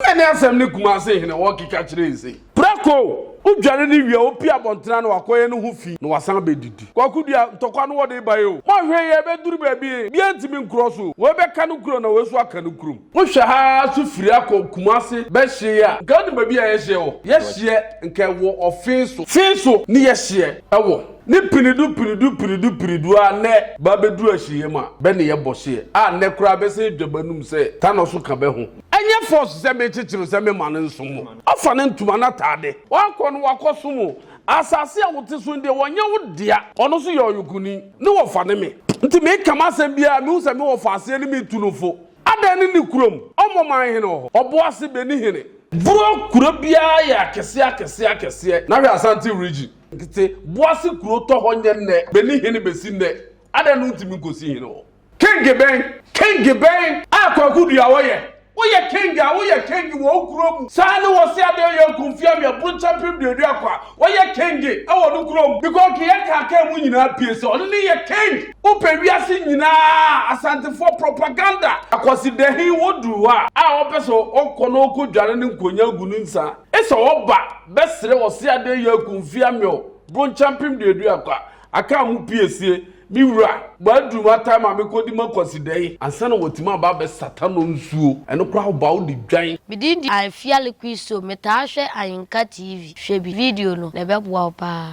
Ɛne asɛm ne Kumasi hene wɔkeka kyerɛ yi sei. Prako! Wo dware no wie a wopie abɔntene ano wakɔyɛ no ho fi na wasan abɛdidi. Kwaku dua, ntɔkwa no wɔde bae o. Moahwɛ yie a ɛbɛduru baabi a obiara ntumi nkorɔ so o. Wei bɛka no kuro na wei nso aka no kurom. Wohwɛ ha ara nso firi ha kɔ Kumasi bɛhyeɛ yi a, nka wonim baabi a yɛhyeɛ wɔ? Yɛhyeɛ nka ɛwɔ Ɔfeeso. Feeso ne yɛhyeɛ wɔ. Ne pinidu pinidu pinidu pinidu ara nnɛ bɛabɛduru ahyieɛ mu a, bɛ ne yɛ bɔ hyeɛ a nnɛ koraa bɛsane dwa b'anom sɛ tanɔ so ka bɛ ho. Ɛnyɛ force sɛ me kyekyere sɛ me ma no nsom o. Ɔfa ne ntoma no ataade. Wakɔ no wakɔ som o. Asase a wote so no deɛ wɔnyɛ wo dea. Ɔno nso yɛ ɔyokoni. Ne wɔfa ne me. Nti me ka m'asɛm biara a mehu sɛ me wɔfa aseɛ no me tu no fo. Adɛn ne ne kurom. Ɔmmɔ man hene wɔ hɔ. Ɔbo ase bɛ ni hene. Boro kuro biara yɛ akɛseɛ akɛseɛ akɛseɛ. Na hwɛ Asante region. Nkete. Bo ase kuro tɔ hɔ nyɛ nnɛ. Bɛ ni hene bɛ si nnɛ. Adɛn no nti me nkɔ si hene wɔ hɔ. King bɛn? King bɛn? A Kwaku Duawɔ yɛ. Woyɛ King a, woyɛ King wɔ wo kuro mu. Saa ne wɔ se adeɛ yɛ nko mfie amia brokya mpem duadua kwa. Woyɛ King wɔ no kuro mu. Bikɔ ke yɛ kaa kaa mu nyinaa pie sɛ ɔno ne yɛ King. Wo pɛ wiase nyinaa Asantefoɔ propaganda. Akwasi Dahin wo duru hɔ a. A ɔpɛ sɛ ɔkɔ na ɔkɔ dware ne nkonya agu ne nsa. Esɛ ɔba bɛ sere ɔse adeɛ yɛ nko mfie amia o brokya mpem duadua kwa. Akaa mo pie se, Me wura, bɛaduru m'atae ma mekɔdi m'akwasidɛ yi ansa na watumi aba abɛsata no nsuo. Ɛno koraa woba wode dwan. Me din de Afiale Christo, metaa hwɛ Ayinka TV. Hwɛ bi video no, na ɛbɛboa wo paa.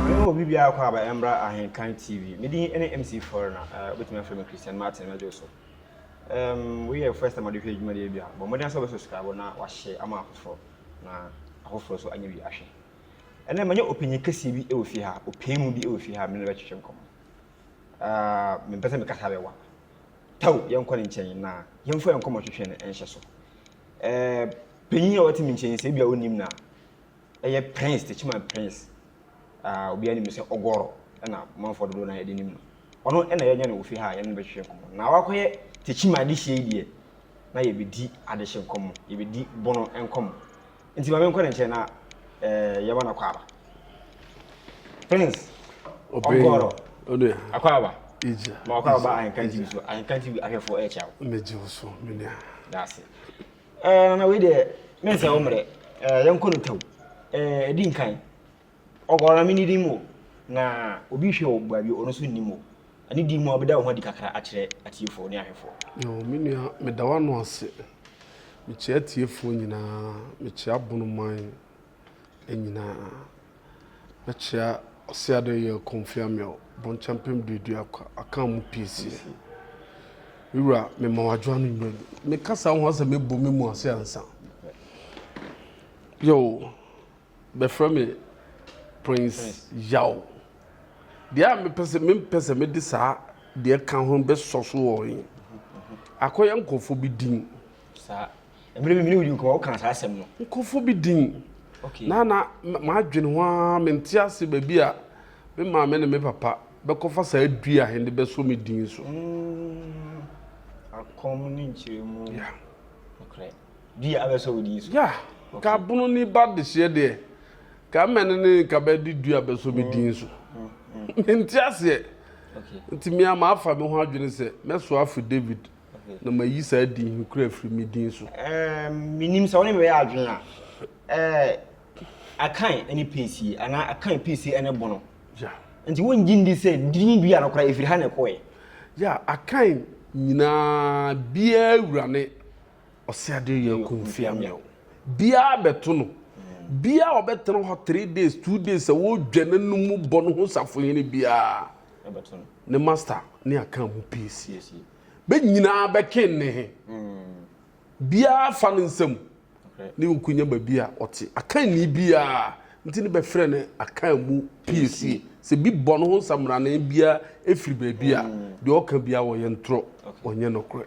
Me ne obi biara kɔ aba ɛmbra Ahenkan TV. Me din ɛne MC Foreigner, eh, wobɛtumi afrɛ me Christian Martin Medwo so. Ehm, wei yɛ first time wode hwɛ adwuma deɛ bi a, bɔ mmɔden sɛ wobɛ subscribe na wahyɛ ama afoforɔ. na afoforɔ nso anya bi ahwɛ. Ɛnnɛ manya ɔpanyin kɛseɛ bi wɔ fie ha, ɔpanin bi wɔ fie ha a me ne no bɛtwetwe nkɔmmɔ. Ah, mempɛ sɛ mekasa bɛwa. Tau, yɛnkɔ ne nkyɛn na yɛmfa yɛn nkɔmmɔtwetwe no nhyɛ so. Eh, panyin a ɔte me nkyɛn sɛ ebi a wonim no a, ɛyɛ Prince, Techiman Prince. Ah, obiara nim no sɛ Ɔgɔrɔ, ɛna manfoɔ dodoɔ no ara de nim no. Ɔno na yɛnyɛ no wɔ fie ha a yɛne no bɛhwehwɛ nkɔmmɔ. Na wakɔyɛ Tekyima adehyeɛ yi deɛ, na yɛbɛdi adehye nkɔmmɔ, yɛbɛdi Bono nkɔmmɔ. Nti ma menkɔ ne nkyɛn na eh, yɛma no akwaaba. Prince, Ɔgɔrɔ, akwaaba. Ma akwaaba ba Ahenkan TV so, Ahenkan TV ahwɛfoɔ ɛrekyia wo. Megye wo so, me nua. Daase. Eh, nana wei deɛ, mensɛ wo mmerɛ, eh, yɛnkɔ no tɛw, eh, ɛdi nkan. Ɔguan me ne dim o. Na obi hwɛ wo baabi a ɔno nso nnim o. Ɛne din mu a wobɛda wo ho adi kakra akyerɛ atiefoɔ ne ahwɛfoɔ. Yoh, me nua, meda w'ano ase. Mekyea atiefoɔ nyinaa. Mekyea Bonoman nyinaa. Mɛkyea Ɔseadɔyɛɛ Komfi Amiaw, Bɔnkyɛmpem Duaduakwa, Akan mu piesie. Me wura, mema wo adwoa no nnwa bi. Me kasa ho asɛm mɛbɔ me mu ase ansa. Yoh, Bɛfrɛ me Prince Yaw. Deɛ a mepɛ sɛ mempɛ sɛ mede saa deɛ ka ho bɛsɔ so wɔ he akɔyɛ nkurɔfoɔ bi din saa mmerɛ mimene wodi nkɔmɔ woka saa asɛm no nkurɔfoɔ bi din okay. na na m'adwene ho ara mente ase baabi a me maame ne me papa bɛkɔfa saa dua he de bɛsɔ me din so mm. akɔm ne nkyerɛmu yeah. okay. Dua a bɛsɔ wo din so. Yeah, nka pono ni ba dehyeɛ deɛ, nka mɛne ne nka bɛde dua a bɛsɔ me din so. Mente aseɛ. Nti me a mafa me ho adwene sɛ mɛsoa afiri David na mayi saa din he koraa afiri me din so. Um, menim sɛ wo ne me bɛyɛ adwene a, eh, Akan ne Peesie, anaa Akan, Peesie ne Bono. Yeah. Nti wongye ndi sɛ din dua no koraa ɛfiri ha na ɛkɔɛ? Yeah, Akan nyinaa biaa wura ne Ɔse adeɛ yɛ yɛ kumfia mɛw. Biaa bɛto no. Biaa ɔbɛtena hɔ three days, two days sɛ wɔɔdwa n'anum mu bɔ no ho safohene biaa ne master ne akaa mu piesie. Bɛ nyinaa bɛke nne he. Biaa fa ne nsam ne nkonya baabi a ɔte. Akaa nni biaa nti ne bɛfrɛ no akaa mu piesie. Sɛ bi bɔ no ho nsammrane biaa firi baabi a, deɛ ɔka biaa ɔyɛ ntorɔ, ɔnyɛ nokorɛ.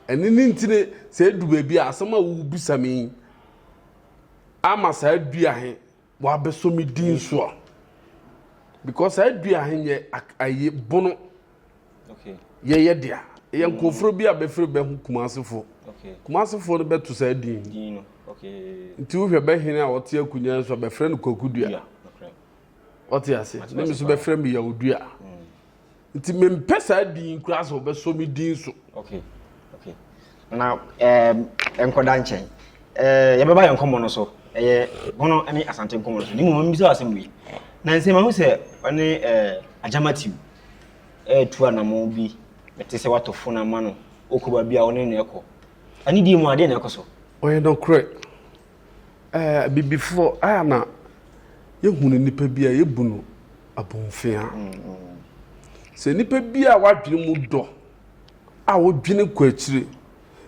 Ɛno ne nti ne sɛ edu baabi a asɛm a wobisa me yi ama saa dua he wabɛsɔ me din so a because saa dua he yɛ ayi bono yɛyɛ dea yɛ nkɔforo bi a bɛfiri bɛho kumasefo kumasefo no bɛto saa din nti wohwɛ bɛhene a ɔte akonnwa nso bɛfrɛ no kwaku dua ɔte ase ne me so bɛfrɛ me yawo dua nti mempɛ saa din koraa sɛ wɔbɛsɔ me din so okay okay na ɛɛ nkɔda nkyɛn ɛɛ yɛbɛba yɛn nkɔmmɔ no so ɛyɛ bono ne asante nkɔmmɔ no so ne mu mmom bisa asɛm wei na nsɛ ma ho sɛ ɔne ɛɛ agyamatiw ɛɛtu anamo bi ɛte sɛ watɔ fon ama no ɔkɔ baabi a ɔne na ɛkɔ ɛne deɛ mu adeɛ na ɛkɔ so ɔyɛ nɔkorɛ Ɛɛ Abibifoɔ a na yɛhunu nipa bi a yɛbu no abomfea. Sɛ nipa bi a wadwene mu dɔ a wodwene kɔ akyire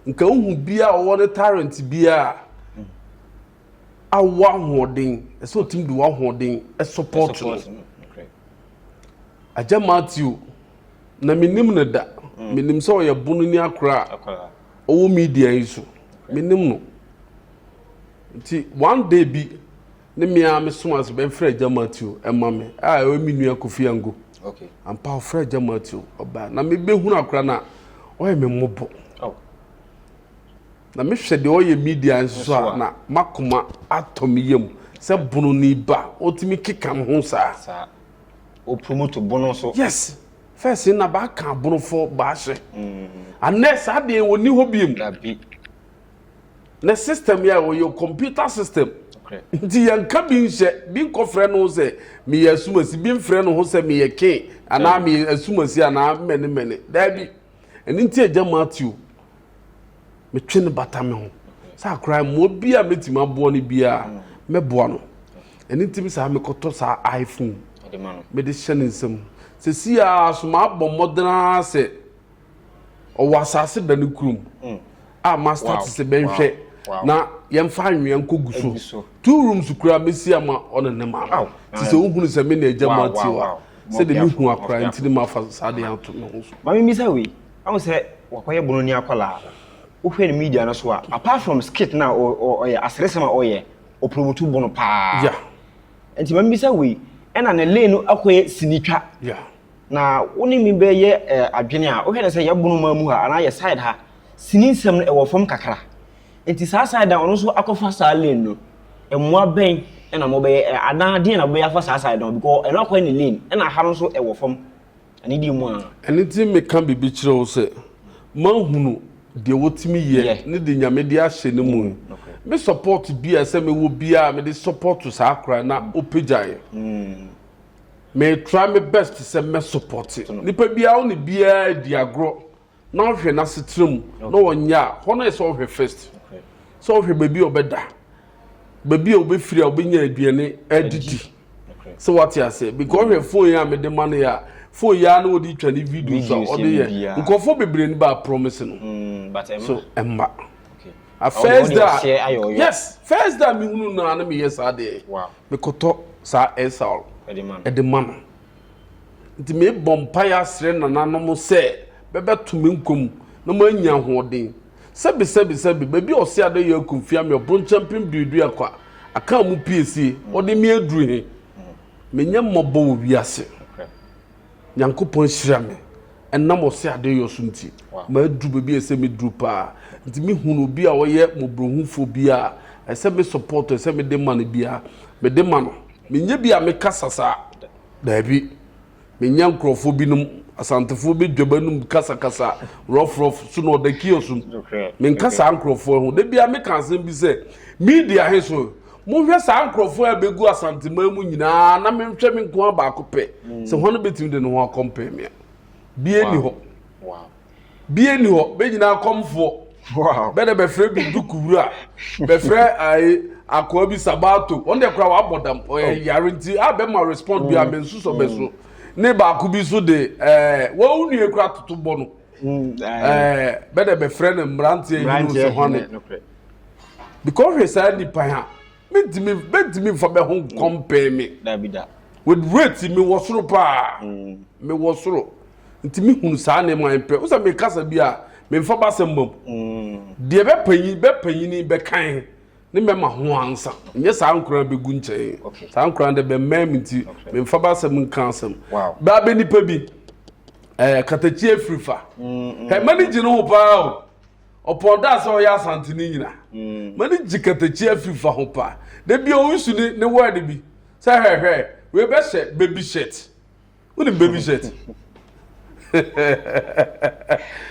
nka wohu bi a ɔwɔ ne talent bi a awo ahoɔden ɛsɛ otumi de wahoɔden support no agya matthew na menim no da menim sɛ ɔyɛ bono ni akora a ɔwɔ media yi so menim no nti one day bi ne me ara mesom ase bɛmfrɛ agya matthew ɛma me a ɛwɔ me nua kofi ango okay. ampa ɔfrɛ agya matthew ɔbaa na mebɛhunu akora no a ɔyɛ me mmɔbɔ oh. na mehwɛ deɛ ɔyɛ media nso so a na makoma atɔ me yam sɛ bono ne ba ɔtumi keka me ho saa ɔpromoto bono so yes Fɛse na baka aborɔfo baahyɛ anɛ saa deɛ wɔnni hɔ biem ne system yɛ wɔyɛ computer system nti yɛnka bi nhyɛ bi nkɔfrɛ no sɛ meyɛ asumasi bi mfrɛ no ho sɛ meyɛ ken anaa meyɛ asumasi anaa mmɛne mmɛne daabi ɛno nti agya matthew metwe no bata me ho saa koraa mmoa bi a mɛtumi aboa no biara mɛboa no ɛne ntimi saa mekɔtɔ saa iphone mede hyɛ ne nsam sɛ si a so maabɔ mmɔdenaa sɛ ɔwɔ asase da no kurom mm. a mastart sɛ bɛnhwɛ na yɛmfa anwea nkɔgu so two rooms koraa mɛsi ama ɔne ne ma no nti sɛ wohunu sɛ me na agya mu atewa sɛdeɛ mehu akora nti ne mafa saa deɛ ato me ho so Ahu sɛ wakɔyɛ bononi akwadaa. Wohwɛ ne media no so a, apart from skit na ɔyɛ, aseresɛm a ɔyɛ, ɔpromotu bono paa. Yeah. Nti ma mibisa wei, ɛna ne lane no akɔyɛ sinitwa. Yeah. Na wo ne me bɛyɛ eh, adwene a, wohwɛ ne sɛ yɛ bono maa mu ha, anaa yɛ side ha, sini nsɛm no ɛwɔ fam kakra. Nti saa side a ɔno nso akɔfa saa lane no, mmoa bɛn ɛna mobɛyɛ, anaa deɛn na mobɛyɛ afa saa side no ho, because ɛno akɔyɛ ne lane, ɛna ha no nso ɛwɔ fam. Anidie mu a. Ɛno nti meka biribi kyerɛ wo sɛ mahunu deɛ wɔtumi yɛ ne deɛ Nyame de ahyɛ ne mu. Me support biara ɛsɛ mewɔ biara mede support saa akora na ɔpagyaeɛ. Me try me best sɛ mɛ support. Nipa biara wo ne biara di agorɔ na ɔhwɛ n'asetra mu na ɔnyɛ a hɔ no yɛ sɛ ɔhwɛ first sɛ ɔhwɛ baabi a ɔbɛda baabi a ɔbɛfiri a ɔbɛnya aduane adidi sɛ wate aseɛ because ɔhwɛ fon yi a mede ma no yɛ a fon yi a na ɔde twa ne videos a ɔde yɛ nkurɔfoɔ bebree no baa promise no mm, so ɛmma a first da yes first da mehunu no a na meyɛ saa deɛ mekɔtɔ saa ɛsaw ɛde ma no Nti mebɔ mpaeɛ asrɛ nananom sɛ bɛbɛto me nkwa mu na manya ahoɔden. Sɛbesɛbesɛbe, baabi a ɔse adeyɛ akumfia me, ɔbronkyɛ mpem duadua kwa, akaa mu piesie, ɔde me aduru he, menyɛ mmɔbɔ wɔ wiase. Nyankopɔn ahyira me, ɛnam ɔse adeyɔ so nti, maduru baabi a ɛsɛ meduru paa. Nti mehunu obi a ɔyɛ mmɔborɔhufoɔ biaa a ɛsɛ me support, ɛsɛ mede ma no biaa, mede ma no. Menyɛ bi a mekasa saa. Daabi. Menya nkurɔfoɔ binom, Asantefoɔ bɛ dwam anum kasakasa, rɔfrɔf, so na ɔda kiosk mu. Menka saa nkurɔfoɔ ho. Da biara meka asɛm bi sɛ, media he so, monhwɛ saa nkurɔfoɔ a bɛgu Asanteman mu nyinaa na menhwɛ me nkoa baako pɛ sɛ hwan bɛtumi de ne ho akɔmpɛɛ me a. Bia nni hɔ. bie nni hɔ bɛnyina akɔmfoɔ bɛdɛ bɛfrɛ bi duku wura bɛfrɛ ayi akoa bi sabato wɔn deɛ koraa wabɔ dam ɔyɛ oh. yare nti a bɛma respond bi a mm. mensusɔ bɛ so mm. ne baako bi so de ɛɛ wɔn nua koraa toto bɔ no mm, ɛɛ bɛdɛ bɛfrɛ no mmeranteɛ yi no sɛ hɔne because hwɛ saa nipa ha. mɛtumi mɛtumi nfa mɛ ho nkɔmpɛɛ mm. me dabi da with rate mi wɔ soro paa mm. mi wɔ soro nti mi hunu saa nneɛma yɛn pɛ wosan mi kasa bi a mi nfa ba asɛm bɔ mu mm. deɛ bɛ panyin bɛ panyini bɛ kan ne mɛ ma ho ansa nyɛ saa nkura bɛ gu nkyɛn saa nkura de bɛ mɛn mi nti mi nfa ba asɛm nka asɛm baa bɛ nipa bi ɛɛ eh, katakyi efiri fa ɛmɛ ni gyi ne ho paa o. ɔpɔn da sɛ ɔyɛ asante no nyina mm. ma ne gye katakyi afiri fa ho paa da bi ɔnsu ne ne word bi sɛ hwɛhwɛ wei bɛhyɛ baby shirt wonim baby shirt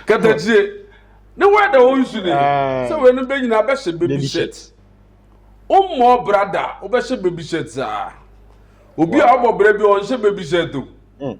katakyie ne word a ɔnsu ne ah. sɛ wei no bɛnyina bɛhyɛ baby shirt wommɔ brada wobɛhyɛ baby shirt saa obi a ɔbɔ brɛ bi ɔnhyɛ baby shirt o mm.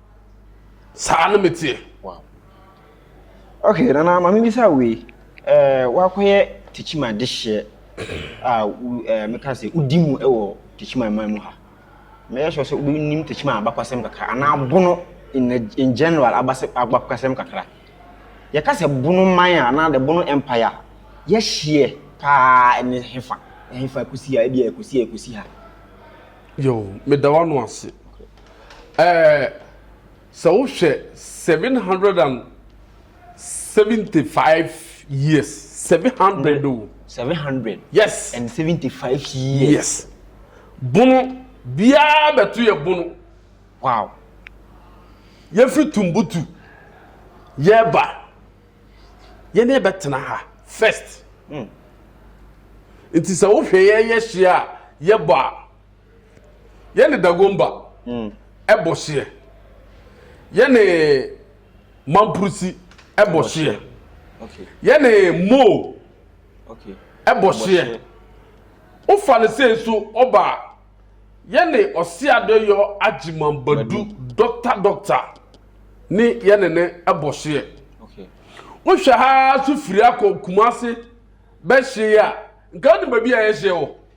saa no meteɛ ok nana ma mebisa wei eh, wakɔyɛ tekyima de hyeɛ a eh, meka sɛ wodi mu wɔ tekyima man mu ha mɛyɛ sure sɛ wobɛnim tekyima abakwasɛm kakra anaa bono in, in general abakwasɛm kakra yɛka sɛ bono man a anaa the bono empire a yɛhyeɛ paa ɛne hefa hefa ɛkɔsi a ɛbi a ɛkɔsi a ɛkɔsi ha yo meda wano ase ɛɛ sɛ wohwɛ seven hundred and seventy five years seven hundred o. seven hundred. yes and seventy five years. yes bono biara bɛto yɛ bono. wow. yɛfiri tumbutu yɛba yɛne yɛbɛtena ha first. Mm. nti sɛ wohwɛ yɛyɛ hye a yɛbɔ a. yɛne dagomba mm. ɛbɔ hyeɛ yɛne mampurusi ɛbɔ hyeɛ yɛne mo ɛbɔ hyeɛ wofa no sɛ nso ɔba a yɛne ɔseadɔyɔ agyemambadu dɔkta dɔkta ne yɛne ne ɛbɔ hyeɛ wohwɛ ha so firi akɔ kumase bɛhyeɛ a nka wonim baabi a yɛhyeɛ wɔ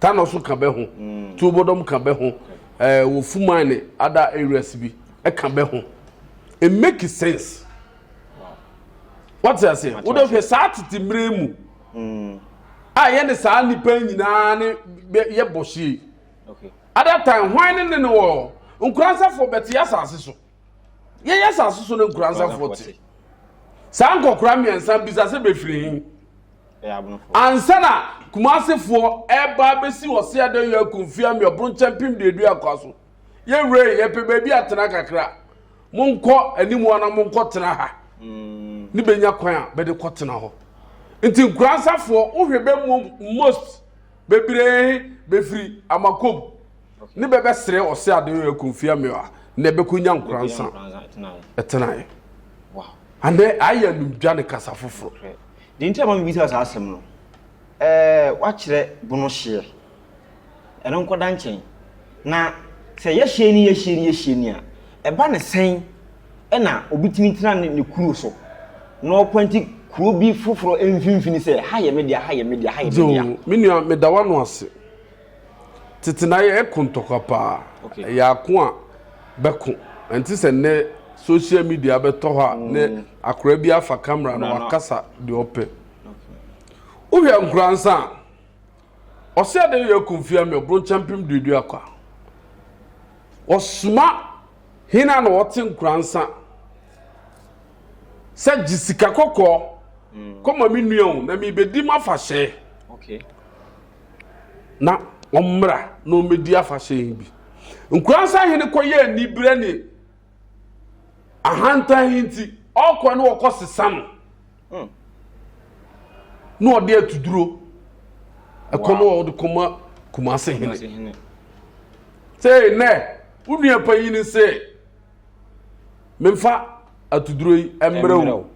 Tano so ka bɛ ho, Tuobodom ka bɛ ho, eh, wɔ Fumai ne other areas bi ka bɛ ho. It make sense. Wate ase? Wode hwɛ saa tete mmere mu mm. a yɛne saa nnipa nyinaa ne yɛbɔ hyie. Other time, hwan ne ne ne wɔ nkoransafo bɛte asase so. yɛyɛ asase so no nkuransafoɔ te saa nkɔkora mmiɛnsa bisa sɛ bɛfiri he ansa na kumasefoɔ ɛba bɛsi ɔse adɛyɛ akumfie ameɔboro nkyɛn pem deɛdu akoa so yɛwerɛ yɛpɛ baabi atena kakra monkɔ anim ana monkɔ tena ha mm. ne bɛnya kwan a bɛde kɔ tena hɔ nti nkuransafoɔ wohwɛ bɛ most bebree bɛfiri amakom ne bɛ bɛsrɛ ɔse ade yɛ Kofi Amewaa na ɛbɛkɔnya Nkoransa tenaeɛ. Anɛ ayɛ animdwa ne kasa foforɔ. Deɛ nti a ma mebisa saa asɛm no, eh, woakyerɛ bono hyeɛ. Ɛno nkɔda nkyɛn. Na sɛ yɛhyeɛ ni, yɛhyeɛ ni, yɛhyeɛ ni a, ɛba no sɛn na obi tumi tena ne, ne kuro so na ɔpɔnte kuro bi foforɔ mfimfini sɛ, ha yɛ me dea, ha yɛ me dea, ha yɛ me dea. Zoo, me nua, meda w'ano ase. Tete na yɛ ɛko ntɔkwa paa. Okay. Ɛyɛ ako a bɛko. Ɛnte sɛ nnɛ social media bɛtɔ hɔ a mm. ne akora bi afa camera na wakasa deɛ ɔpɛ. Wohwɛ nkora nsa a ɔsɛ ade yɛ akumfia mi ɔboro nkyɛmpem duadua kwa. Ɔsoma hena na ɔte nkora nsa sɛ gye sika kɔkɔɔ mm. kɔma me nua o na mebɛdi mu afahyɛ. Okay. na wɔmmra na wɔmmɛdi afahyɛ yi bi. Nkura sahene kɔyɛ aniberɛ ne ahantan yi nti, ɔkɔ na ɔkɔ sesa no hmm. na ɔde atuduro ɛkɔ na ɔde kɔma kumase hene. Sɛ nɛ, wo nua panyin sɛ, memfa atuduro yi mmerɛ wo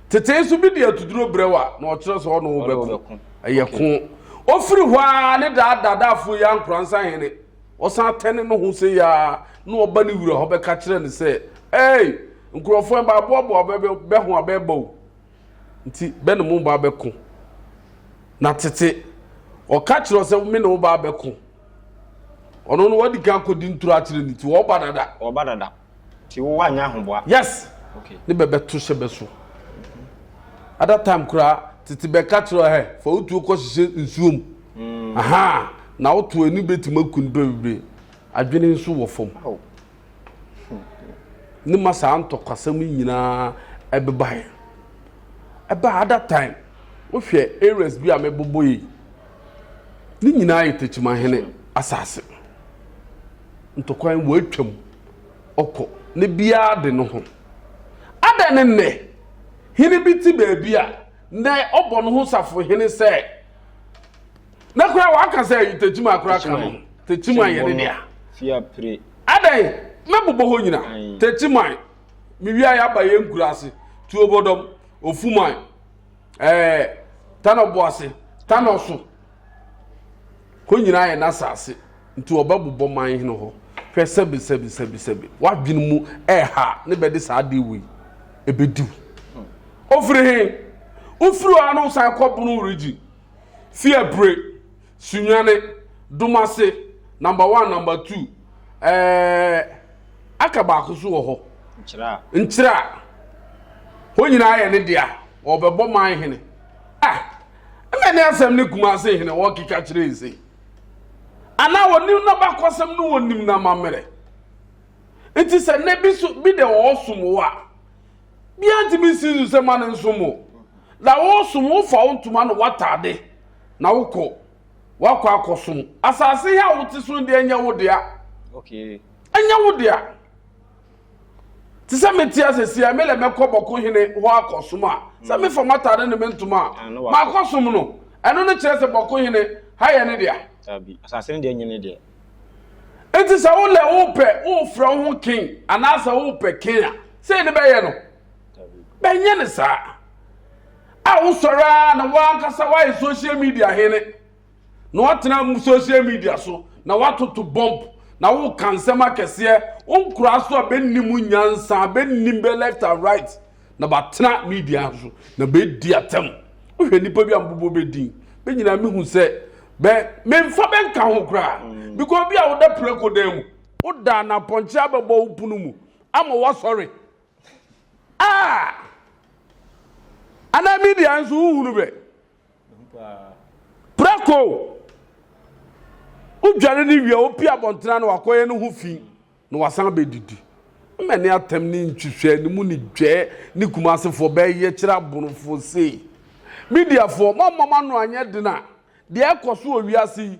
tetee so bi de atuduro brɛ wo a na ɔkyerɛ sɛ ɔne wo bɛko ɛyɛ ko ɔfiri hɔ a ne daadaadaafoɔ yi ankoransa hene ɔsan tɛne no ho sɛ yɛa na ɔba ne wura hɔ bɛka kyerɛ no sɛ ei nkurɔfoɔ ɛba aboaboa bɛho a bɛba o nti bɛ ne mo ba bɛko na tete ɔka kyerɛ sɛ me ne wo ba bɛko ɔno no wadi kan kɔdi ntoro akyerɛ ne ti wɔba dada wɔba dada Ti wo wa nya ahoboa. Yes. Okay. Ne bɛbɛ to hyɛ bɛ so. At that time kura tete bɛ ka kyerɛ hɛ fa wo tuo kɔ hyehyɛ nsuo mu. Mm. Aha. Na wo to ani bɛ tuma kun bɛ bebree. Adwene nso wɔ fam. Oh. Ne ma saa ntɔkwasɛm nyinaa ɛbɛba yɛ. Ɛba at that time wohwɛ areas bi a mɛbobɔ yi. ne nyinaa yɛ takyimahene asase ntɔkwan wɔatwam ɔkɔ ne biara de no ho adɛn ne nnɛ hene bi te baabi a nnɛ ɔbɔ no ho safo hene sɛ na koraa wɔaka sɛ takyima koraa ka no takyima yɛ ne dea adɛn mɛbobɔ hɔ nyina takyiman mewia yɛ aba yɛ nkura ase tuobɔdɔm ofuman ɛɛ tanɔ bo ase tanɔ so hɔ nyinaa yɛ n'asase nti ɔbɛbobɔ man hene hɔ hwɛ sɛbi sɛbi sɛbi sɛbi w'adwene mu ɛɛha ne bɛde saa adeɛ wei ɛbɛdiw ofiri he wofiri hɔ ano san kɔ bono region fi abire. Sunyani, Dumase, number one, number two, ɛɛɛ aka baako so wɔ hɔ. Nkyerɛ a. Nkyerɛ a. Hɔ nyinaa yɛ ne dea. Ɔbɛbɔ man hene. Ah, ɛna ne asɛm ne Kumase hene wɔkeka kyerɛ yi sei. Anaa wɔnim na bakɔsɛm no wɔnim na mammerɛ. Nti sɛ nnɛ bi so bi de ɔɔsom wo a, bia ntumi nsi so sɛ ma ne nsom wo. Na wɔsom wo fa wo ntoma na wɔatade. na wokɔ wakɔ akɔsom asase ha a wote so deɛ ɛnyɛ wo dea ɛnyɛ wo dea te sɛ mete asɛsi a melɛ mɛkɔ bɔko hene hɔ akɔsom a sɛ mm. mefa matade ne mentom a ah, maakɔsom no ɛno no kyerɛ sɛ bɔko hene ha yɛ ne dea enti sɛ wolɛ wopɛ wofrɛ wo ho ken anaasɛ wopɛ ken a sɛ ne bɛyɛ no bɛnyɛ ne saa A Wosɔre ara na w'ankasa woayɛ social media hene, na woatena social media so na woatoto bɔmp, na woreka nsɛm akɛseɛ, wo nkoraa so a bɛnni mu nyansa, bɛnni bɛ left and right, na bɛatena media so na bɛredi atɛm. Wohwɛ nnipa bi a mebobɔ bɛ din, bɛ nyinaa mehu sɛ bɛ memfa bɛ nka ho koraa, because obi a woda prako dan mu, woda anapɔnkye abɛbɔ wo pono mu ama woasɔre, Ah! Ana mi deɛ nso wohunu bɛ prako wodware no wie wopi abɔntena na wakɔyɛ no ho fi na wasan bɛdidi mmɛ ne atɛm ne ntwitwɛ ne mu ne dwɛɛ ne kumasefoɔ bɛyɛ kyerɛ abonofoɔ sei mediafoɔ moammam ano anyɛ den a deɛ ɛkɔ so wɔ wiase yi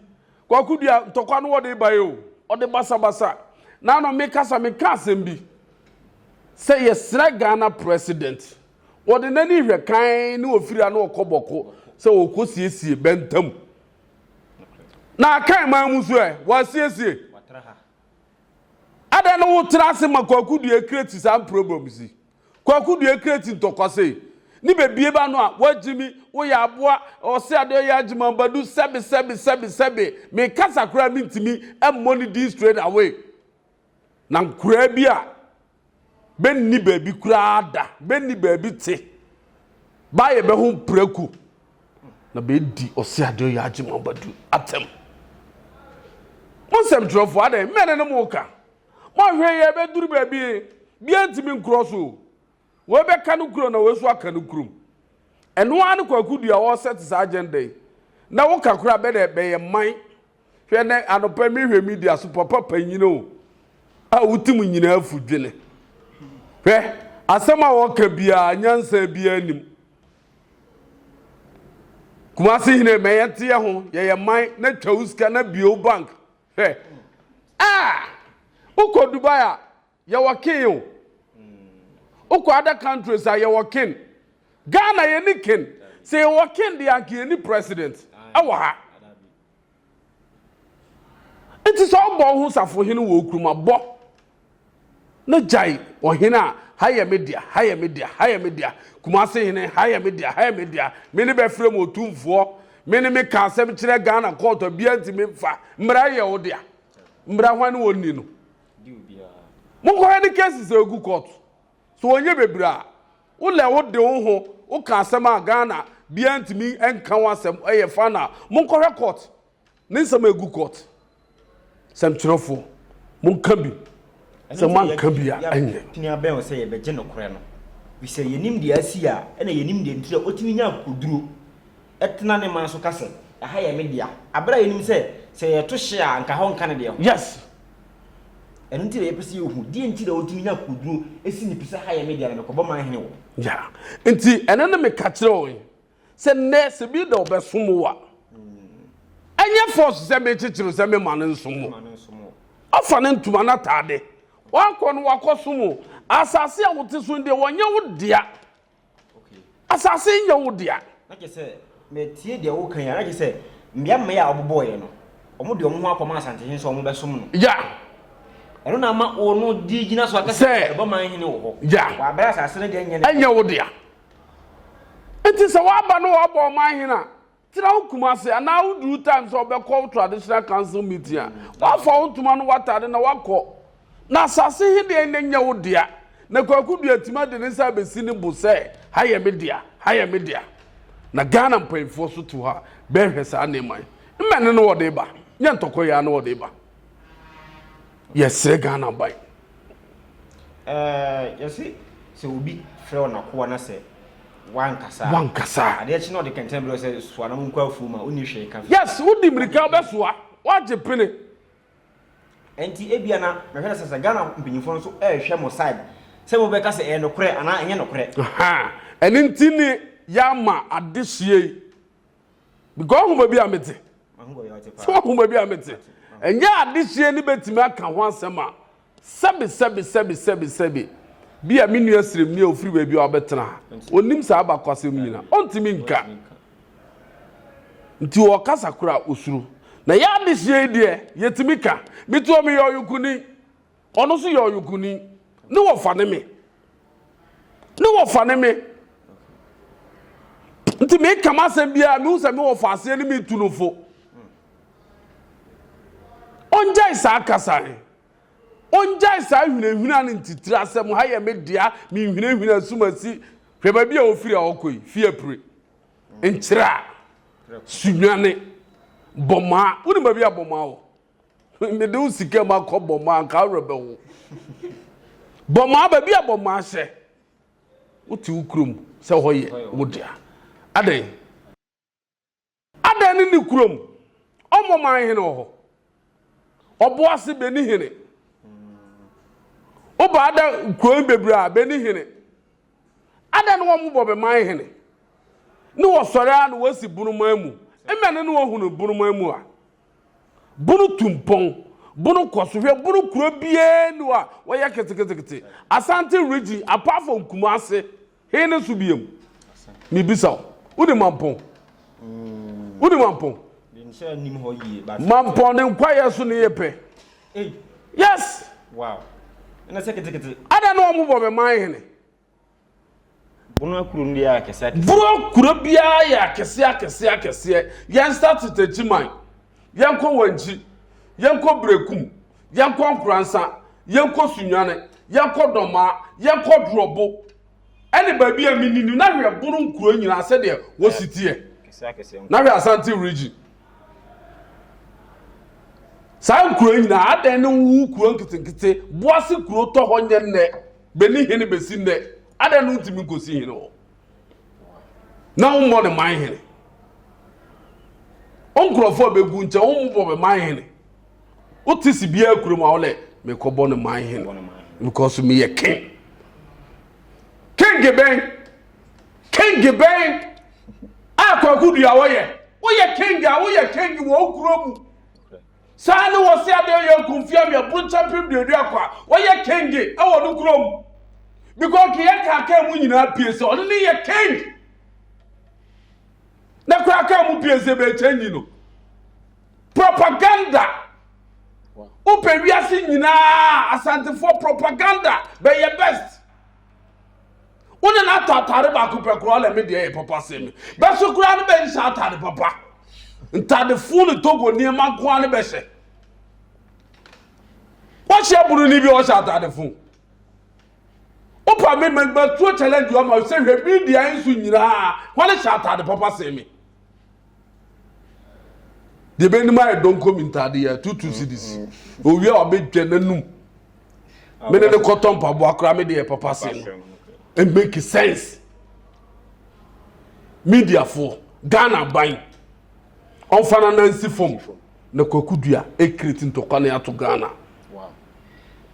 Kwaku Duah ntɔkwa no wɔde bae o, ɔde basabasa na ano me kasa me ka asɛm bi sɛ yɛsrɛ Ghana president wɔde n'ani hwɛ kann ne ofiri ano ɔkɔ bɔko sɛ ɔkɔ siesie bɛntam na akan man mu so ɛ wɔasiesie adɛn no wo tra ase ma Kwaku Duah create saa problems yi. Kwaku dua kreti ntɔkwa sei ne bebie ba no a wagyimi woyɛ aboa ɔse ade ɔyɛ agyeman badu sɛbe sɛbe sɛbe sɛbe me kasa koraa mentimi mmɔ ne din straight away na nkoraa bi a bɛ nni baabi koraa da bɛ nni baabi te ba yɛ bɛ ho praku na bɛ di ɔse ade ɔyɛ agyeman badu atɛm mo nsɛmtwerɛfoɔ adɛn mɛne ne mo ka Monhwɛ yi ɛbɛduru baabi biara ntumi nkorɔ so o. Wei bɛka no kurom na wei nso aka no kurom. Ɛno ara ne Kwaku Duah ɔresɛte saa agenda yi. Na woka koraa bɛ dɛ bɛyɛ man. Hwɛ nɛ anɔpa yi mehwɛ media so papa panyin o a wotim nyinaa afu dwene. Hwɛ asɛm a wɔka biara nyansa biara nnim. Kumase hene ma yɛnteɛ ho yɛyɛ man na twa wo sika na bue wo bank Hwɛ ah Wokɔ Dubai a, yɛwɔ ken o. Wokɔ other countries a, yɛwɔ ken. Ghana yɛni ken. Sɛ yɛwɔ ken deɛ anka yɛni president ɛwɔ ha. Nti sɛ wobɔ wo ho safohene wɔ wo kurom a, bɔ. No gyae ɔhene a, ha yɛ me dea, ha yɛ me dea, ha yɛ me dea, Kumasi hene, ha yɛ me dea, ha yɛ me dea, me ne bɛfrɛ mu otumfoɔ, me ne me ka asɛm kyerɛ Ghana court a bia ntumi mfa, mmara yɛ wo dea, mmara hwan ne wɔn ni no? Monkɔhwɛ ne cases a egu court, so wɔnyɛ bebree a, wo lɛ wo de wo ho wo ka asɛm a Ghana bia ntumi nka ho asɛm ɛyɛ fine a, monkɔhwɛ court. Ne nsɛm a egu court sɛmtwerɛfoɔ mo nka bi sɛ mo anka bi a ɛnyɛ. Tumi abɛn wo sɛ yɛbɛgye nokorɛ no firi sɛ yɛnim deɛ asi a ɛna yɛnim deɛ nti a ɔtumi nya akokoduro tena ne man so ka sɛ ɛha yɛ me dea aberɛ a yɛnim sɛ sɛ yɛto hye a anka hɔ nka ne deɛ ho. Yes. Ɛno nti na yɛpɛ sɛ yɛhu deɛ nti na ɔtumi nya akokoduro si ne pi sɛ ha yɛ me dea na mekɔbɔ man hene wɔ. Yeah. Nti ɛno ne meka kyerɛ wo yi. Sɛ nɛɛse bi da ɔbɛsom wo a, ɛnyɛ fɔs sɛ mekyekyere sɛ mema no nsom wo. Ɔfa ne ntoma no ataade. Wakɔ no wakɔsom wo. Asase a wote so deɛ wɔnyɛ wo dea. Asase nyɛ wo dea. Na kyerɛ sɛ metie deɛ woka yi a na kyerɛ sɛ mmea mmaa a wɔbobɔeɛ no wɔn de wɔn ho akɔma asantehene sɛ wɔn bɛsom no. Ya. Ɛno na ama wɔn di gyina so akasa ɛbɔ man hene wɔ hɔ. Ya. Wɔabrɛ asase no deɛ nyɛ ne. Ɛnyɛ wo dea. Enti sɛ w'aba na w'abɔ ɔman hene a, tena wo Kumasi anaa wo duru time sɛ ɔbɛkɔ wo traditional council meeting a, w'afa wo ntoma no w'atade na w'akɔ. Na asase he deɛ na nyɛ wo dea. Na Kwaku Duatima de ne nsa abɛsi ne bo sɛ ha yɛ me dea, ha yɛ me dea. Na Ghana mpaninfoɔ nso te hɔ a bɛɛhwɛ saa nneɛma yi. Mmɛ ne ne wɔde ba, nyɛ ntɔkwa yi ara ne wɔde ba. Yɛsrɛ Ghana ban. Yɛse sɛ obi frɛ wo n'akoa na sɛ wankasa wankasa adeɛ kye na ɔde kɛntɛn berɛ sɛ soa na monkɔ afuo ma wonni hwee ka yes wodi mmirika wobɛsoa woagye pene ɛnti ebia na mehwɛ sɛ sɛ Ghana mpanyinfoɔ no so ɛrehwɛ mo side sɛ mobɛka sɛ ɛyɛ nokorɛ anaa ɛnyɛ nokorɛ ɛne nti ne yɛama adehyeɛ yi because ɔhoma bi a mete sɛ ɔhoma bi a mete ɛnyɛ adehyeɛ no bɛtumi aka ho asɛm a sɛbe sɛbe sɛbe sɛbe sɛbe bi a me nua srem ni a ofiri baabi a ɔbɛtena ha ɔnim saa abakwasɛm nyina ɔntumi nka nti ɔkasa kora osuro na yɛ adehyeɛ yi deɛ yɛtumi ka metuo meyɛ ɔyokuni Ɔno nso yɛ ɔyokuni. Ne wɔfa ne me. Ne wɔfa ne me. Nti meka m'asɛm biara mehu sɛ me wɔfa aseɛ ne metu no fo. Ɔngyae saa kasa he. Ɔngyae saa hwinahwina ne ntitiri asɛm ha yɛ me dea menhwinahwina sum asi hwɛ baabi a ɔfiri a ɔkɔ yi fie apire nkyerɛ a sunwane bɔmaa wonim baabi a bɔmaa wɔ Mede wo sika mu akɔ bɔmmɔ anka awerɛ bɛho. Bɔmmɔ aba bi a bɔmmɔ ahyɛ. Wote wo kurom sɛ hɔ yɛ wo dea. Adɛn? Adɛn ne ne kurom? Ɔmmɔ man hene wɔ hɔ. Ɔbo ase bɛni hene. Woba ada kurom bebree a bɛni hene. Adɛn ne wɔn bɔ bɛ man hene? Ne wɔsɔre a na wɔasi bonoman mu. Mmɛ ne ne wɔhunu bonoman mu a. Bono tu mpɔn, Bono kɔ so hwɛ, Bono kuro biara nni hɔ a wɔyɛ keteketekete, Asante region apart from Kumasi, he ne so biom? Mebisa wo, wonim Mampɔn? Wonim Mampɔn? Mampɔn ne nkwayɛ so ne yɛ pɛ. Yes! Wow. Ɛna sɛ ketekete. Ada na wɔn bɔ me man hene. Bono kuro no yɛ akɛseɛ akɛseɛ. Bono kuro biara yɛ akɛseɛ akɛseɛ akɛseɛ. Yɛn start Techiman, yɛn kɔ Wankyi, yɛn kɔ Berekum, yɛn kɔ Nkoransa, yɛn kɔ Sunyane, yɛn kɔ Dɔmaa, yɛn kɔ Drɔbo, ɛne baabi a menim na hwɛ Bono nkuro nyinaa sɛdeɛ wɔsi teɛ. Na hwɛ Asante region. Saa nkuro nyinaa adɛn ne wo kuro nketenkete boase kuro tɔ hɔ nyɛ nnɛ. bɛni hene bɛsi nnɛ adɛn no ntumi nkɔsi hene hɔ na wommɔ ne man hene wo nkurɔfoɔ a bɛgu nkyɛ wommobɔ me man hene wote si biara kurom a wodɛ mekɔbɔ ne man hene because meyɛ king king bɛn king bɛn a kwakodua wɔyɛ woyɛ king a woyɛ king wɔ wo kuro mu Saa ne wɔse adeɛ yɛ kumfia me aburokya mpem duaduako a wɔyɛ kenge wɔ no kurom. Biko keyɛ kaa kaa mu nyinaa pie sɛ ɔno ne yɛ keng. Na koraa kaa mu pie sɛ bɛkyɛ nyi no. Propaganda. Wopɛ wiase nyinaa asantefoɔ propaganda bɛyɛ best. wo ne no atɔ atade baako pɛ koraa na me deɛ yɛ papa sɛ me bɛso koraa no bɛnhyɛ atade papa ntadefoɔ ne togo nneɛma nkoa no bɛhyɛ wɔhyɛ buroni bi ɔhyɛ atade fo wopa me matuo challenge ɔma sɛ hwɛ me deɛ nso nyinaa wɔne hyɛ atade papa sɛ me deɛ bɛnim ayɛ donko mi ntaade yɛ two two cedis owie a ɔbɛtwa n'anum mene ne kɔtɔ mpaboa koraa me deɛ papa se no it make sense mediafoɔ ghana ban ɔmfa no nansi fam na kwaku dua ɛkreti ntɔkwa ne ato ghana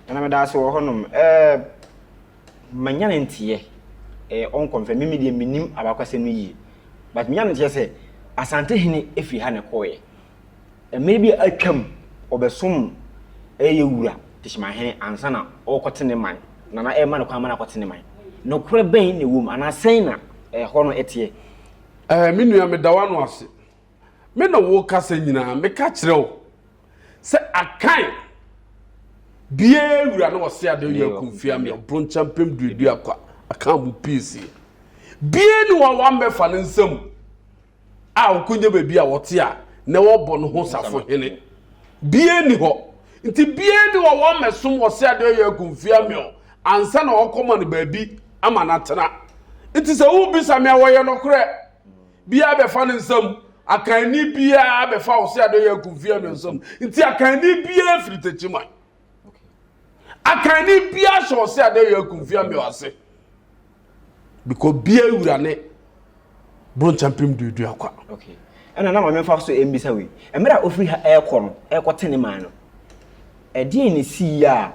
ɛna meda ase wɔ hɔnom ɛɛ ma nyane nteɛ ɛɛ ɔnkɔ mfɛ mimi deɛ menim abakwasɛm no yie but nyane nteɛ sɛ asante hene ɛfiri ha na ɛkɔɔyɛ mmerɛ bi a atwam ɔbɛsom ɛyɛ wura tehyima hene ansa na ɔkɔte ne man na na ɛma no kwan ma no akɔte ne man nokorɛ bɛn na ɛwɔ mu anaa sɛn na ɛhɔ no ɛteɛ. Ɛɛ me nua meda w'ano ase. me ne wo kasa nyinaa meka kyerɛ wo sɛ akan biara wura na wɔse ade yɛ akumfia me ɔbronkyɛ mpem duadu akwa aka mu piesie bie ne wɔn wammɛfa ne nsam a ɔkɔnya baabi a wɔte a na wɔbɔ no ho safo hene bie ni hɔ nti bie ne wɔn wammɛsom wɔse ade yɛ akumfia me ansa na wɔkɔma no baabi ama no atena nti sɛ wobisa me a wɔyɛ nokorɛ Biaa bɛfa ne nsam. Akanni biaa bɛfa Ose Adeyɛ Akumfeɛ no nsam. Nti Akanni biaa firi Techiman. Akanni biaa hyɛ Ose Adeyɛ Akumfeɛ ameo ase. Because biaa wura ne Bronchampem duadua akwa. Okay. Ɛna na maame mfa so mbisa wei. Mmerɛ a ofiri ha ɛrekɔ no, ɛrekɔ te ne man no, ɛdeɛn na ɛsii a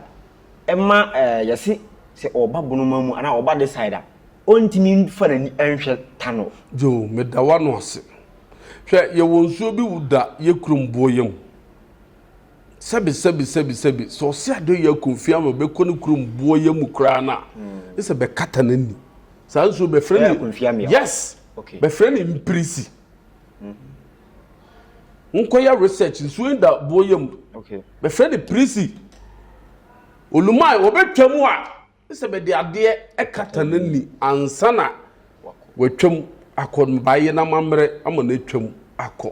ɛma yɛse sɛ ɔreba Bonoma mu anaa ɔreba this side a, ɔntumi mfa n'ani nhwɛ ta no. Joe, meda w'ano ase. Hwɛ, yɛwɔ nsuo bi wo da yɛ kurom boɔyɛ mu. Sɛbe, sɛbe, sɛbe, sɛbe, sɛ ɔse Adeoye Akonfie ama bɛkɔ ne kurom boɔyɛ mu koraa no a, gye sɛ bɛkata n'ani. Saa nsuo bɛfrɛ no, Akonfie amea. Yes! Okay. Bɛfrɛ no Mpirisi. Monkɔyɛ research, nsuo yi da boɔyɛ mu. Okay. Bɛfrɛ no Pirisi. Olumai, wɔbɛtwa mu a, Ne sɛ bɛde adeɛ kata n'ani ansa na watwam akɔ no baayɛ na amammerɛ ama no atwam akɔ.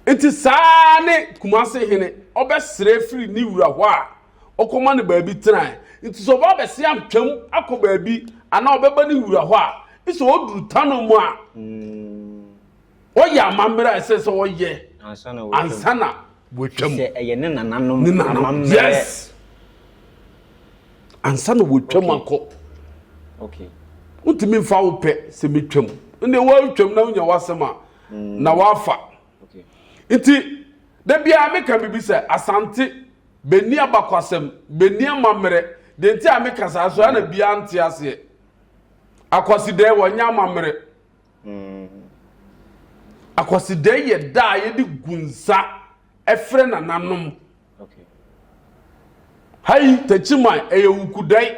Nti saa ne Kumase hene ɔbɛsrɛ firi ne wura hɔ a ɔkɔma no baabi tenae. Nti sɛ ɔba abɛse atwam akɔ baabi anaa ɔbɛba ne wura hɔ a, ne sɛ ɔduru Tano mu a, Wɔyɛ amammerɛ a ɛsɛ sɛ wɔyɛ ansa na wɔatwam. Sɛ ɛyɛ ne nananom amammerɛ. Yes. Ansa na wɔatwam akɔ. Okay. Wontumi mfa wo pɛ sɛ metwam. Nde wɔatwam na wonya w'asɛm a mm. na wafa. Okay. Nti da biara meka biribi sɛ asante bɛnni abakwasɛm bɛnni amammerɛ deɛ nti a meka saa so ana biara nte aseɛ akwasidɛɛ wɔnyɛ amammerɛ Akwasidɛe yɛ da a yɛde gu nsa frɛ nananom. Hai Takyiman, ɛyɛ Wukudɛe.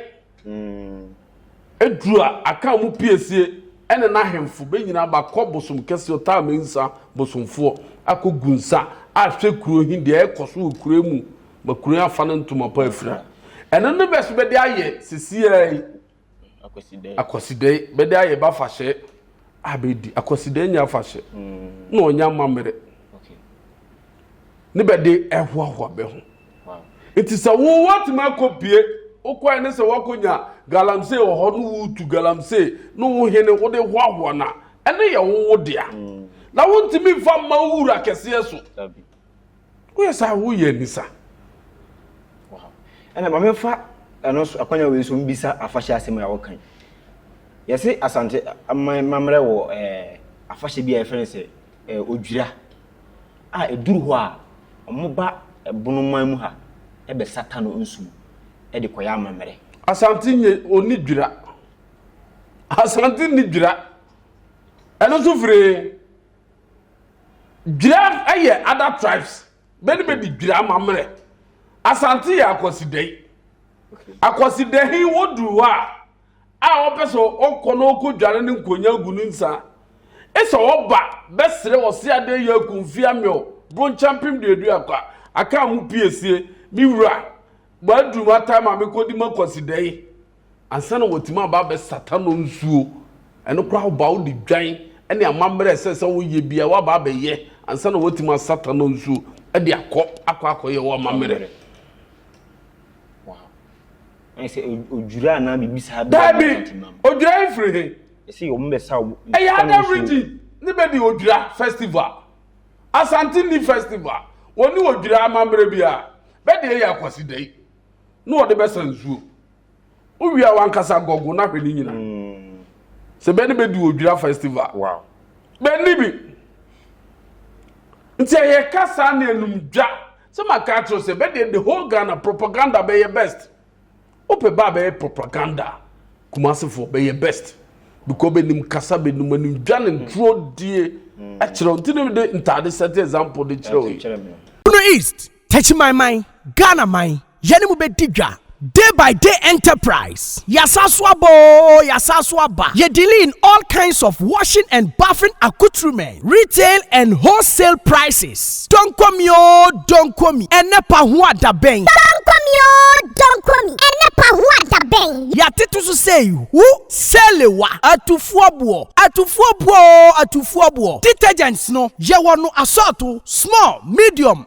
Eduru a, aka mu piesie ne n'ahemfo bɛnyina aba kɔ bosom kɛseɛ Ɔtaamansa bosomfoɔ akɔgu nsa ahwɛ kuro he deɛ ɛɛkɔ so wɔ kuro mu ma kuro he afa ne ntoma pa afira. Ɛno ne bɛ so bɛde ayɛ sesiaa yi. Akwasidae. Akwasidae bɛde ayɛ b'afahyɛ a bɛdi. Akwasidae nyɛ afahyɛ na ɔnyɛ amammerɛ. Ne bɛde ɛhoahoa bɛ ho. Nti sɛ wo woatumi akɔ pie wokɔɛ ne sɛ woakɔ nya galamsey wɔ hɔ ne wotu galamsey ne wo hene wode hoahoa no a ɛno yɛ wo wo dea. Na wontumi mfa mma wo wura kɛseɛ so. Woyɛ saa woyɛ anisa. Ɛna ma memfa ɛno nso akwanya wei nso mbisa afahyɛ asɛm a wɔka yi. Yɛse Asante aman mammerɛ wɔ ɛɛ afahyɛ bi a yɛfrɛ no sɛ ɛɛ odwira a ɛduru hɔ a wɔba ɛbono man mu ha ɛbɛsata no nsu mu ɛde kɔyɛ amammerɛ. Asante nye ɔni dwira. Asante nni dwira. Ɛno nso firi he? Dwira yɛ other tribes bɛ ne bɛ di dwira amammerɛ asante yɛ akwasidayi akwasidahi woduru hɔ a a ɔpɛ sɛ ɔkɔ na ɔkɔ dware ne nkonya gu ne nsa ɛsɛ ɔba bɛsrɛ ɔse adeɛ yɛ akumfi amɛw bronchampem deɛ du akɔ a aka mu piesie me wura bɔ aduru ma time a mekɔdi ma akwasidayi ansa na wɔatumi aba abɛsata no nsuo, ɛno koraa woba wode dwan ne amammerɛ ɛsɛ sɛ woyɛ bia woaba abɛyɛ ansa na wɔatumi asata no nsuo de akɔ akɔ akɔyɛ wo amammerɛ. odwira anaa biribi saa daabi odwira efiri he ɛsɛ wɔn bɛ sa ɛyɛ ada region ne bɛ di odwira festival asante ni festival wɔn ni odwira amammerɛ bi a bɛ de ɛyɛ akwasi dɛ yi. na wɔde bɛsa nsuo wowie a wankasa gɔgo na hwɛ ne nyina mm. sɛ bɛne bɛdi odwira festival wow. bɛni bi nti ɛyɛ ka saa ne anum dwa sɛ maka akyerɛ sɛ bɛdeɛ the whole ghana propaganda bɛyɛ best wopɛ ba bɛyɛ propaganda kumasefoɔ bɛyɛ best because bɛnim kasa bɛnim anim dwa ne ntuo die mm. akyerɛ nti ne de ntaade sɛte example de kyerɛ wo yi east Techimanman, Ghana man, yɛne mo bɛdi dwa, Day by Day Enterprise, yɛasan so aba oo, yɛasan so aba, yɛ dealing in all kinds of washing and bathing accoutrements, retail and wholesale prices, Donkomi oo, Donkomi, ɛnɛ pa ho a da bɛn? Donkomi oo, Donkomi, ɛnɛ pa ho a da bɛn? Yɛatete so sei, Hu, Selewa, Atufoɔ boɔ, Atufoɔ boɔ oo, Atufoɔ boɔ, Detergents no, yɛwɔ no asɔɔto, small, medium,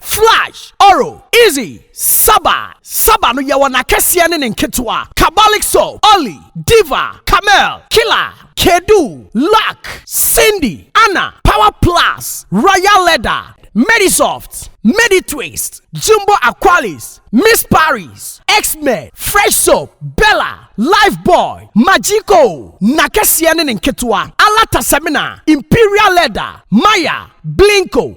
Flash, Oro, Izzy, Saba, Saba no yɛwɔ n'akɛseɛ ne ne nketewa, Kabalik Soap, Olly, Diva, Camel, Killer, Kedu, Luck, Cindy, Anna, Power Plus, Royal Leather, Medisoft, Meditwist, Jumbo Aqualis, Miss Paris, X-Men, Fresh Soap, Bella, Lifebuoy, Magico, n'akɛseɛ ne ne nketewa, Alata Semina, Imperial Leather, Maya, Blinko,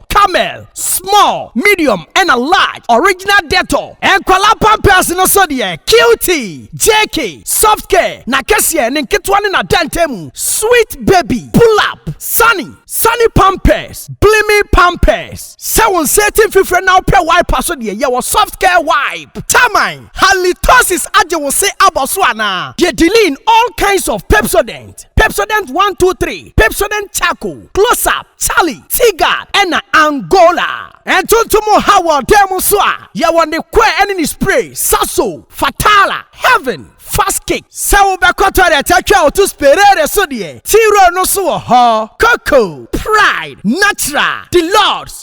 Camel, small, medium ɛna large, original Dettol. Nkwadaa pampers no so deɛ, Cutie, JK, Soft Care, n'akɛseɛ, ne nketewa ne n'adantamu, Sweet Baby, Pull Up, Sunny, Sunny Pampers, Blimi Pampers. Sɛ wo nsa ati mfifire na wopɛ wipe a so deɛ, yɛwɔ Soft Care Wipe. Taman, Halitosis agye wo se abɔ so anaa? Deɛ Diline, all kinds of Pepsodent. Pepsodent one two three, Pepsodent Charcoal, Close Up, Charlie, T-Guard, ɛna Angola. Ntontom ha wɔ dan mu nso a, yɛwɔ ne kɔɛ ɛne ne spray, Sasso, Fatala, Heaven, Fast Kick. Sɛ wobɛkɔ toilet atwa wo to Sperare so deɛ, T-Roll no nso wɔ hɔ. Coco, Pride, Natural, Deluxe,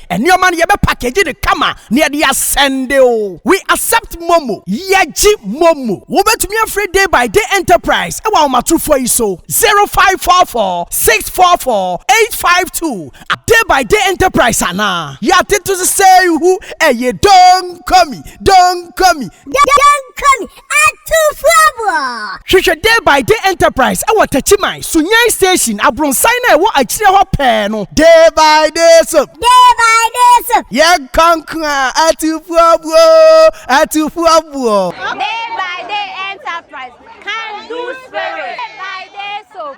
Nneɛma no yɛbɛ package no kama na yɛde asɛnde o. We accept momo. Yɛgye momo. Wobɛtumi afrɛ Day by Day Enterprise ɛwɔ ahomatorofoɔ yi so, 0544 644 852 a Day by Day Enterprise anaa. Yɛatete so sɛ ihu ɛye Don't call me, don't call me. Don't call me, Atufoɔ! Hwehwɛ Day by Day Enterprise wɔ Takyiman, Sunyani Station, abronsan no a ɛwɔ akyire hɔ pɛɛ no. Day by Day Soap. Day by Day Soap. Yɛnkɔ nko a, Atufoɔbuo! Atufoɔbuo! Day by Day Enterprise, Can Do Spirit. Day by Day Soap.